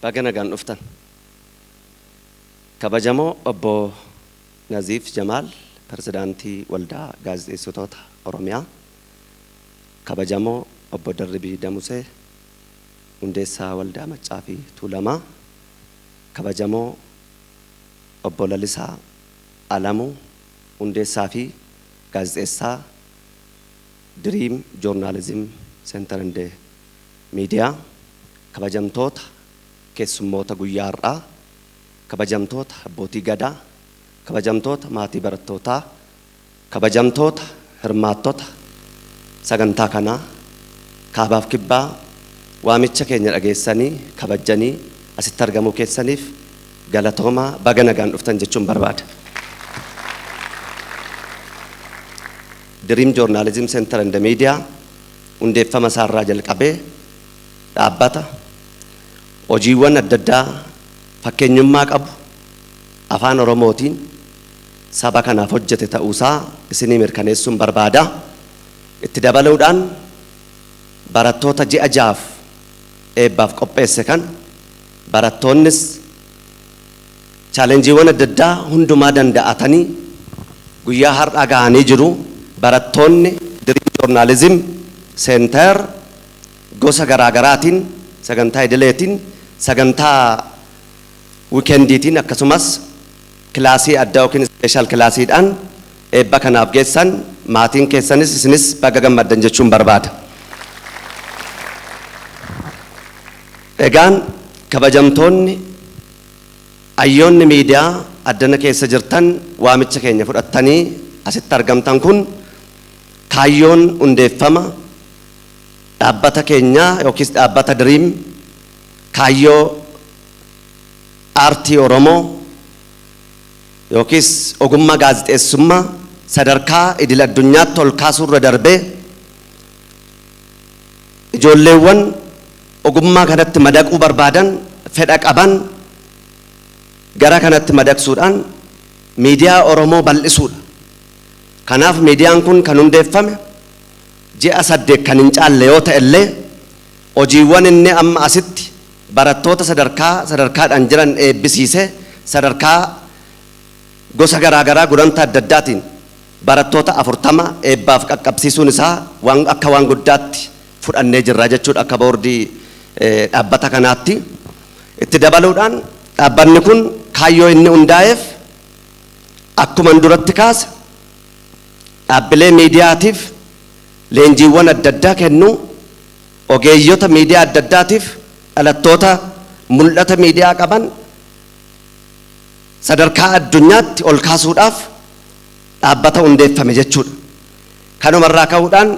Baga nagaan dhuftan kabajamoo obbo Naziif Jamaal Pirezidaantii Waldaa Gaazexeessitoota Oromiyaa, kabajamoo obbo Darribii Damusee Hundeessaa Waldaa Maccaa fi Tuulamaa, kabajamoo obbo Lalisaa Alamuu Hundeessaa fi Gaazexeessaa Dream Journalism Center and Miidiyaa, Kabajamtoota keessummoota guyyaa har'aa, Kabajamtoota Abbootii Gadaa, Kabajamtoota maatii barattootaa, Kabajamtoota hirmaattota sagantaa kanaa, Kaabaaf Kibbaa waamicha keenya dhageessanii kabajjanii asitti argamuu keessaniif galatoomaa baga nagaan dhuftan jechuun barbaada. Dream Journalism Center and Media Hundeeffama isaa irraa jalqabee dhaabbata hojiiwwan adda addaa fakkeenyummaa qabu Afaan Oromootiin saba kanaaf hojjete ta'uu isaa isinii mirkaneessuun barbaada. Itti dabaluudhaan barattoota ji'a ja'aaf eebbaaf qopheesse kana barattoonnis, Chaalenjiiwwan adda addaa hundumaa danda'atanii guyyaa har'aa gahanii jiru. Barattoonni Dream Journalism Center gosa garaa garaatiin sagantaa idileetiin, sagantaa wikendiitiin akkasumas kilaasii addaa ykn ispeeshaal kilaasiidhaan eebba kanaaf geessan. Maatiin keessanis isinis baga gammaddan jechuun barbaada. Egaan kabajamtoonni Hayyoonni miidiyaa addana keessa jirtan waamicha keenya fudhattanii asitti argamtan kun kaayyoon hundeeffama dhaabbata keenyaa yookiis dhaabbata Dream kaayyoo aartii Oromoo yookiis ogummaa gaazixeessummaa sadarkaa idil addunyaatti ol kaasuu irra darbee Ijoolleewwan ogummaa kanatti madaquu barbaadan, fedha qaban gara kanatti madaqsuudhaan miidiyaa Oromoo bal'isuudha. Kanaaf miidiyaan kun kan hundeeffame ji'a saddeet kan hin caalle yoo ta'ellee hojiiwwan inni amma asitti barattoota sadarkaa sadarkaadhaan jiran eebbisiisee sadarkaa gosa garaa garaa gulantaa adda addaatiin barattoota 40 eebbaaf qaqqabsiisuun isaa waan akka waan guddaatti fudhannee jirra jechuudha akka boordii dhaabbata kanaatti. Itti dabaluudhaan dhaabbanni kun kaayyoo inni hundaa'eef akkuman duratti kaase dhaabbilee miidiyaatiif leenjiiwwan adda addaa kennuu, ogeeyyota miidiyaa adda addaatiif dhalattoota mul'ata miidiyaa qaban, sadarkaa addunyaatti ol kaasuudhaaf dhaabbata hundeeffame jechuudha. Kanuma irraa ka'uudhaan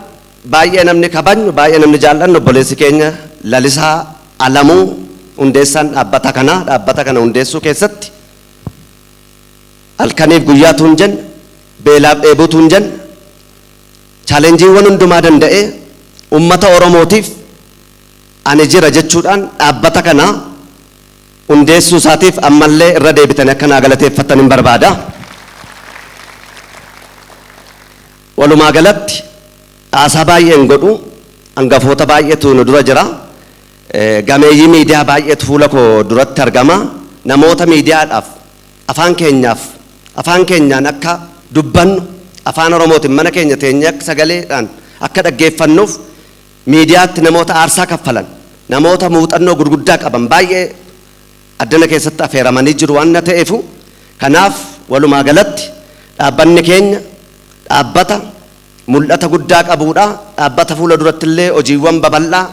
baay'ee namni kabajnu, baay'ee namni jaal'annu obboleessi keenya Lalisaa Alamuu hundeessaan dhaabbata kanaa dhaabbata kana hundeessuu keessatti halkaniif guyyaa tuun jenna, beelaaf dheebuu tuun jenna, chaalenjiiwwan hundumaa danda'ee uummata Oromootiif ani jira jechuudhaan dhaabbata kana hundeessuu isaatiif ammallee irra deebitanii akka naa galateeffattan hin barbaada. Walumaa galatti haasaa baay'ee hin godhu. Hangafoota baay'eetu nu dura jira. Gameeyyii miidiyaa baay'eetu fuula koo duratti argama. Namoota miidiyaadhaaf afaan keenyaaf afaan keenyaan akka dubbannu afaan Oromootiin mana keenya teenyee akka sagaleedhaan akka dhaggeeffannuuf Miidiyaatti namoota aarsaa kaffalan, namoota muuxannoo gurguddaa qaban baay'ee addana keessatti afeeramanii jiru waan ta'eefu, kanaaf walumaa galatti dhaabbanni keenya dhaabbata mul'ata guddaa qabuudha, dhaabbata fuula duratti illee hojiiwwan babal'aa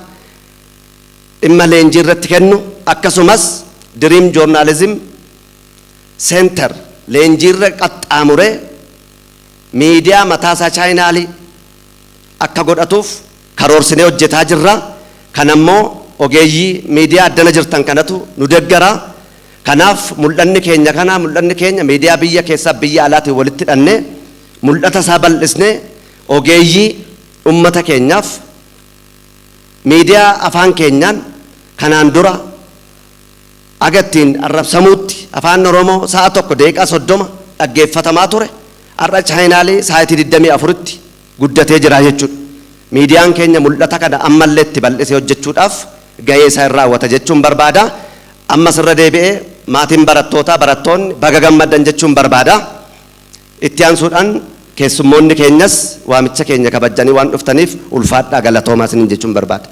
dhimma leenjii irratti kennu, akkasumas Dream Journalism Center leenjiirra qaxxaamuree miidiyaa mataasaa chaayinaalii. akka godhatuuf karoorsinee hojjetaa jirra. Kana immoo ogeeyyii miidiyaa addana jirtan kanatu nu deggara. Kanaaf mul'anni keenya kana, mul'anni keenya miidiyaa biyya keessaaf biyya alaatiin walitti hidhannee mul'ata isaa bal'isnee ogeeyyii ummata keenyaaf miidiyaa afaan keenyaan kanaan dura Haga ittiin arrabsamuutti Afaan Oromoo sa'a 1:30 dhaggeeffatamaa ture har'a chaayinaalii saayitii 24tti guddatee jira jechuudha. Miidiyaan keenya mul'ata kana ammallee itti bal'isee hojjechuudhaaf gahee isaa in raawwata jechuun barbaada. Ammas irra deebi'ee maatiin barattootaa, barattoonni baga gammaddan jechuun barbaada. Itti aansuudhaan keessummoonni keenyas waamicha keenya kabajjanii waan dhuftaniif ulfaadhaa galatoomaa isiniin jechuun barbaada.